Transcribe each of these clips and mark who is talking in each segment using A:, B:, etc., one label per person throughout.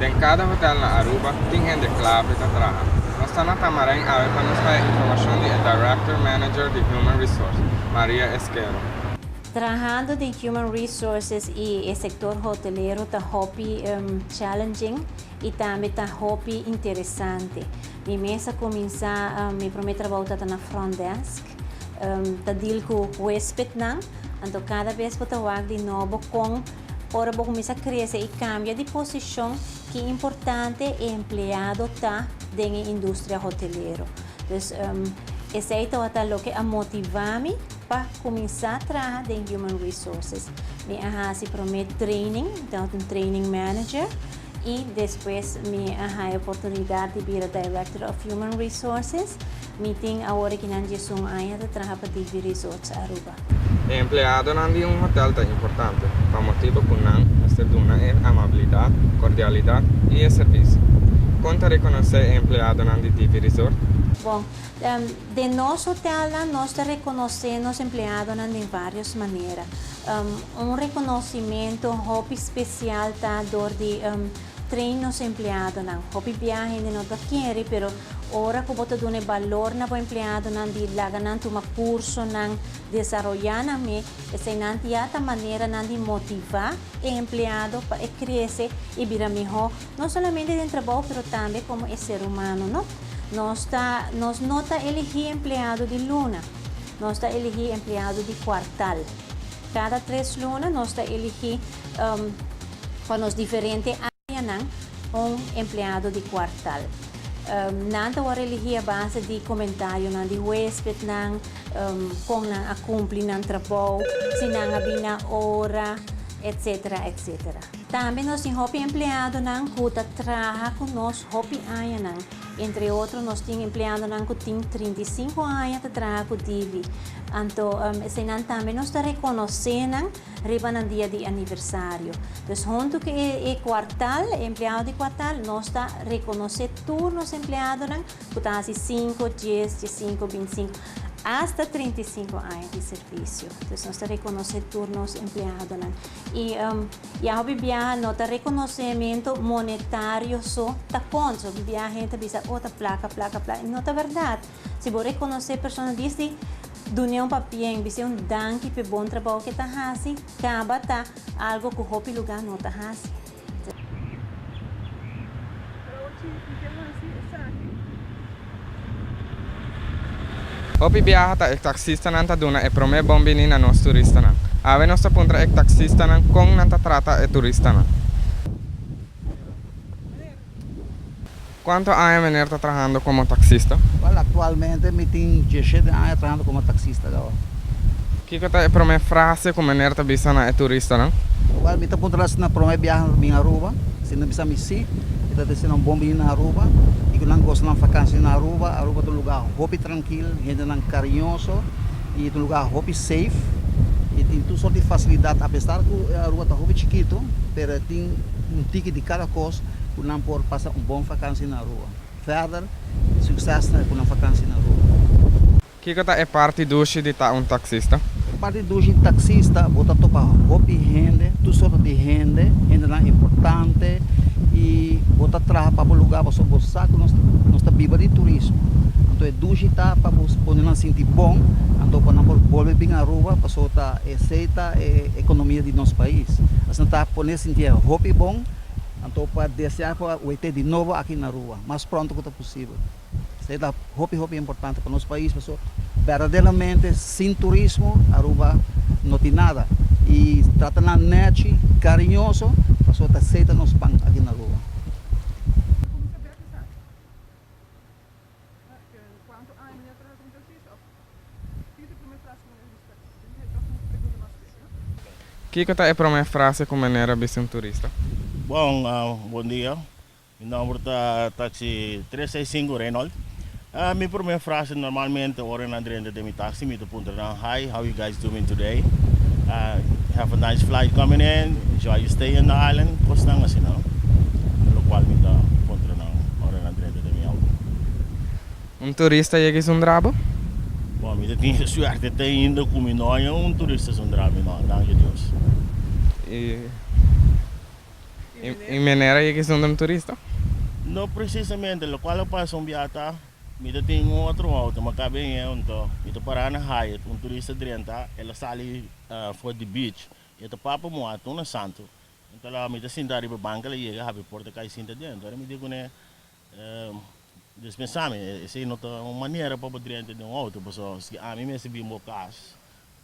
A: Den kada hotel na Aruba tin hende kla pe ta traha. Nos ta na Tamarijn awe pa nos haya informashon di e Director Manager di Human Resource, Maria Esquero. Trahando
B: den Human Resources i e sektor hotelero ta hopi challenging i tambe ta hopi interesante. Mi mes a kuminsá mi promé trabou ta ta na front desk, ta deal ku huespetnan. Anto kada bes bo ta wak di nobo kon Ora bo kuminsá krese i kambia di posishon, ki importante e empleado ta den e industria hotelero. Dus, esei tabata loke a motivá mi pa kuminsá traha den Human Resources. Mi a hasi promé training, mi ta un training manager, i despues mi a haña e oportunidat di bira Director of Human Resources. Mi tin awor e kinan diesun aña ta traha pa DV Resorts Aruba. E empleadonan
A: di un hotel ta importante pa motibu ku nan mester duna e amabilidat, kordialidat i e servisio. Kon ta rekonosé e empleadonan di DP Resort? Bon,
B: den nos hotelnan nos ta rekonosé nos empleadonan den vários manera. Un rekonosimentu hopi spesial ta dor di. Train nos empleadonan. Hopi bia hende no ta kere, pero ora ku bo ta duna e balor na bo empleadonan di laga nan tuma kursonan, desaroyá nan me, eseinan ya ta maneranan di motivá e empleado pa e krese i bira mihó, no solamente den trabou pero tambe komo e ser humano. No, nos ta, nos no ta eligí empleado di luna, nos ta eligí empleado di kuartal. Cada tres luna nos ta eligi pa nos diferente areanan un empleado di cuartal. Nan ta word eligi a base di comentarionan di huespednan, con nan a cumpli nan trabou, si nan a bini a ora, etc. Etc. Tambe nos tin hopi empleadonan cu ta traha cu nos hopi añanan. Entre otro nos tin empleadonan cu tin trinta i sinku aña ta traha cu Divi. Anto eseinan tambe nos ta reconoce nan riba nan dia di aniversario. Dus hunto cu e cuartal, e empleado di cuartal, nos ta reconoce tur nos empleadonan cu ta haci sinku, dies, diesinku, bintisinku, hasta trinta i sinku aña di servicio. Dus nos ta reconoce tur nos empleadonan. I a hopi biaha no ta rekonosementu monetario so ta kont. So hopi biaha hende ta bisa, Oh, ta plaka, plaka, plaka. I no ta bèrdat. Si bo rekonosé persona dies di dun'é un papié i bis'é un danki p'e bon trabou k'e ta hasi, kaba ta algu ku hopi lugá no ta hasi.
A: Hopi biaha ta e taksistanan ta duna e promé bon bini na nos turistanan. Awe nos ta puntra e taksistanan kon nan ta trata e turistanan. Kuantu aña meneer ta trahando komo taksista? Wel, aktualmente
C: mi tin dieshet den aña trahando komo taksista. Kiko
A: ta e promé frase ku Meneer ta bisa na e turistanan? Wèl, mi ta puntra nan
C: si nan promé biaha ta bin Aruba. Si nan bisa mi sí, mi ta disi nan bon bini na Aruba i ku nan gosa nan vakansia na Aruba. Aruba ta un lugá hopi trankil, hendenan kariñoso i ta un lugá hopi seif. E tin tur sort di fasilidat. Apesar ku Aruba ta hopi chikitu, pero e tin un tiki di kada kos ku nan por pasa un bon vakansia na Aruba. Verder, sukses na e ku nan vakansia na Aruba! Kiko ta e
A: parti dushi di ta un taksista? E parti dushi di
C: taksista, bo ta topa hopi hende, tur sorto di hende, hendenan importante, i bo ta traha pa bo lugá pasobra bo sa ku nos nos ta biba di turismo. Anto e dushi ta pa bo pone nan sinti bon, anto pa nan por bolbe bin Aruba pasobra ta esei ta e ekonomia di nos pais. Asina ta pone sinti e hopi bon, anto pa deseá por a wete di nobo aki na Aruba mas pronto ku ta posibel. Esei ta hopi hopi importante pa nos pais pasobra berdaderamente sin turismo Aruba no tin nada y trata nan nechi cariñoso pasobra ta esei ta nos pan aki na Aruba.
A: Kiko ta e prome frase ku meneer a bisa un turista? Bon,
D: bon dia. Mi nomber ta taxi tres seis sinku Reynold. Mi primer frase normalmente ora nan drenta den mi taxi mi ta puntra nan hi how you guys doing today have a nice flight coming in enjoy your stay in the island cosnan asi no lo cual mi ta puntra nan ora nan drenta den mi auto. Un turista yega y su
A: ndrabo? Bon mi ta
D: tin e suerte te ainda cu mi no haña un turista su ndrabo y no danki a Dios.
A: I manera yek esun dam turista? No
D: presisamente, lokual a pasa un biaha ta mi ta tin un otro outo ma ka beng'e un to. Mi ta para na Hyatt, un turista drenta, el a sali for di beach i e ta papa moa tuna santu. Enton la mi ta sinta riba banca la yega habi porta kai sinta dentro. Ora mi di kuné. Dios pensami, Esei no ta un manera pa bo drenta den un outo, pasobra si ami mester bin bo kas,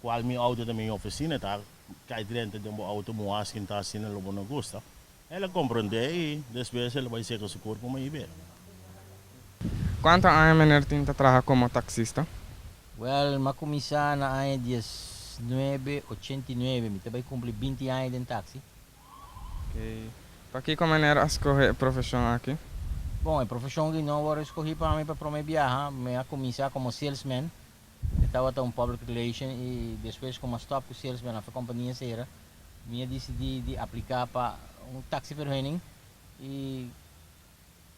D: kual mi outo ta miña ofisina, ta kai drenta den bo outo muhas kin ta asina lo bo no gusta. El a komprondé i despues el a bai seka su kurpu ma i bira.
A: Kuantu aña Meneer tin ta traha komo taksista? Wèl,
E: m'a kuminsá na aña diesnuebe ochenta i nuebe. Mi ta bai kumpli binti aña den taksi.
A: Pa kiko manera a skohe e profeshon aki? Bon, e profeshon
E: aki no a wòrdu skohí pa mi pa promé biaha. Mi a kuminsá komo salesman. Mi tabata un public relation i despues ku mi a stòp ku salesman after kompania sera, mi a disidí di apliká pa un taksiverhuning i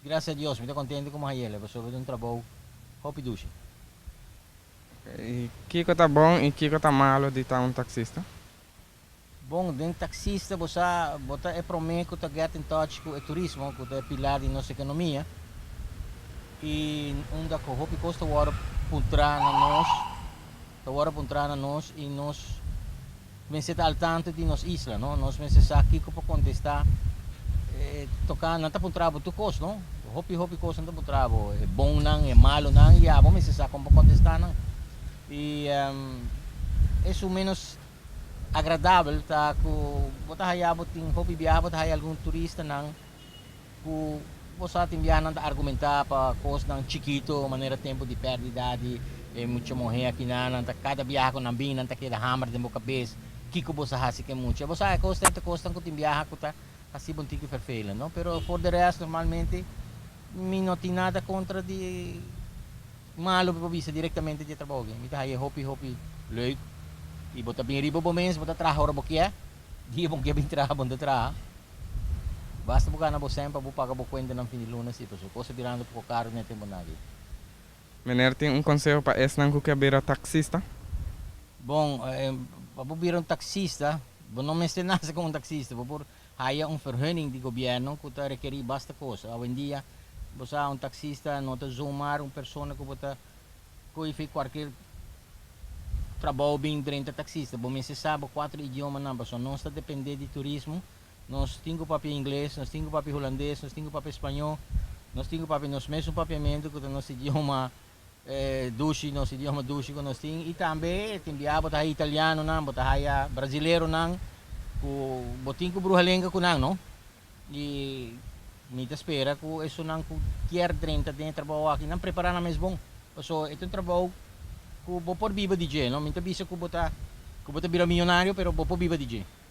E: grasia a Dios mi ta kontentu ku mi a haya'le pasobra mi ta un trabou hopi dushi.
A: Kiko ta bon i kiko ta malu di ta un taksista?
E: Bon den taxista bo sa bo ta e prome ku ta get in touch ku e turismo ku ta e pilar di nos ekonomia i unda ku hopi kos ta wòrdu puntra na nos ta wòrdu puntra na nos i nos mester ta al tantu di nos isla no nos mester sa kiko por kontesta tokante nan ta puntra bo tur kos no hopi hopi kos nan ta puntra bo e bonnan e malonan i abo mester sa kon por kontesta nan i esun menos Agradabel ta ku bo ta haya bo tin hopi biaha bo ta haya algun turistanan ku bo sa tin biahanan ta argumentá pa kosnan chikito manera tempu di pèrdida di e mucha muhé akinan nan ta kada biaha ku nan bin nan ta keda hamber den bo kabes kiko bo sa hasi ku e mucha bo sa e kosnan e ta kosnan ku tin biaha ku ta hasiba un tiki vervelend no pero for de rèst normalmente mi no tin nada kontra di. Ma lo mi por bisa directamente di e trabou aki. Mi ta haya e hopi hopi leuk. Y bo ta bin riba bo mes, bo ta traha ora bo kier. Dia bo no kier bin traha, bo no ta traha. Basta bo gana bo cen pa bo paga bo cuentanan fin di luna si, pasobra cos ta birando poco caro den e tempo nan aki. Meneer
A: tin un conseho pa esnan cu kier bira taxista? Bon,
E: pa bo bira un taxista, bo no mester nase como un taxista. Bo por haya un verhunning di gobièrnu ku ta rekerí basta kosa. Awendia bo sa un taksista no ta zomar un persona ku bo ta koe f'e kuarker trabou bin drenta taksista. Bo mester sa bo kuater idiomanan pasobra nos ta dependé di turismo. Nos tin ku papia ingles, nos tin ku papia hulandes, nos tin ku papia spañó, nos tin ku papia nos mes un papiamentu ku ta nos idioma. E dushi nos idioma dushi ku nos tin i tambe e tin biaha bo ta haya italianonan, bo ta haya brasileronan ku bo tin ku bruha lenga ku nan no. I mi ta spera ku esunnan ku kier drenta den e trabou aki nan prepará nan mes bon. Paso e ta un trabou ku bo por biba di dje no. Mi ta bisa ku bo ta ku bo ta bira millonario pero bo por biba di dje.